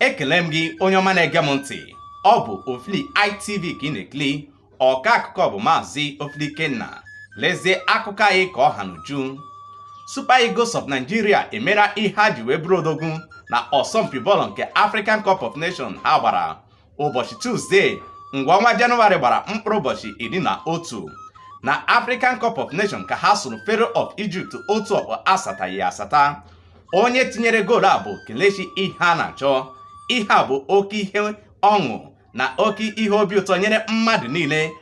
ekele m gị onye ọma na-ege m ntị ọ bụ Ofili ITV ka ị na-ekili ọka akụkọ bụ maazị Ofili Ikenna lezie akụkọ anyị ka ọ ha n'uju Super Eagles of Nigeria emera ihe ha ji wee bụrụ odogwu na ọsọmpi bọọlụ nke African Cup of Nations ha gbara ụbọchị Tuzdee mgbe ọnwa Jenụwarị gbara mkpụrụ ụbọchị iri na otu na African Cup of Nations ka ha sụrụ Pharaoh of Egypt otu ọkpọ asataghị asata onye tinyere goolu a bụ Kelechi Iheanacho ihe a bụ oke ihe ọṅụ na oke ihe obi ụtọ nyere mmadụ niile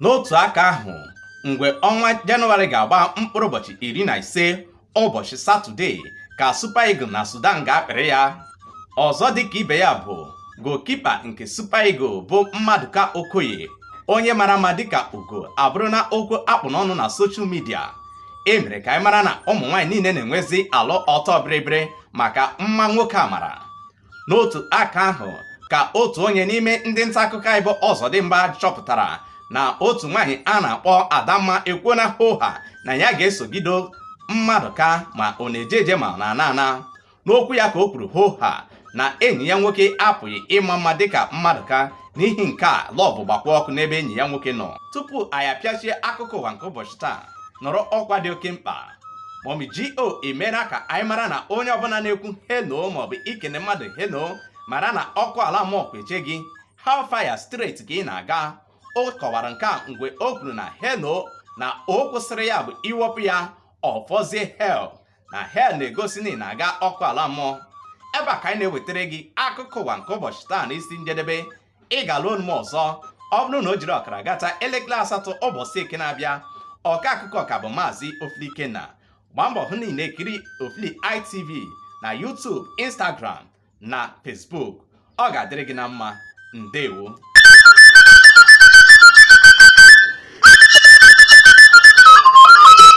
n'otu aka ahụ mgbe ọnwa jenụwarị ga-agba mkpụrụ ụbọchị iri na ise ụbọchị satọde ka Super Eagles na Sudan ga-apịrị ya ọzọ dịka ibe ya bụ goalkeeper nke Super Eagles bụ Mmadụka Okoye onye mara mma dịka ugo abụrụna okwu a kpụ n'ọnụ na social media e mere ka anyị mara na ụmụ nwaanyị niile na-enwezi alụ ọtọ bịrịbịrị maka mma nwoke a mara n'otu aka ahụ ka otu onye n'ime ndị nta akụkọ anyị bụ Ọzọdimgba chọpụtara na otu nwaanyị a na-akpọ Adamma ekwuona hoha na ya ga-esogido Mmadụka ma ọ na-eje eje ma ọ na-ana ana n'okwu ya ka o kwuru hoha na enyi ya nwoke apụghị ịma mma dịka Mmadụka n'ihi nke a love gbakwa ọkụ n'ebe enyi ya nwoke nọ tupu anyị apịachie akụkọ ụwa nke ụbọchị taa nụrụ ọkwa dị oke mkpa Mummy G.O emeela ka anyị mara na onye ọbụla na-ekwu hello maọbụ ikene mmadụ hello mara na ọkụ ala mmụọ kweche gị hellfire straight ka ị na-aga o kọwara nke a mgbe o kwuru na hello na o kwụsịrị ya bụ i wepụ ya ọ fọzie hell na hell na-egosi na ị na-aga ọkụ ala mmụọ ebe a ka anyị na-ewetara gị akụkọ ụwa nke ụbọchị taa na isi njedebe ị ga-anụ onu m ọzọ ọ bụrụ na o jiri ọkara gata elekere asatọ ụbọchị eke na-abịa ọka akụkọ ka bụ maazị ofili ikenna gbaa mbọ hụ na ị na-ekiri ofili itv na youtube instagram na facebook ọ ga-adịrị gị na mma ndewo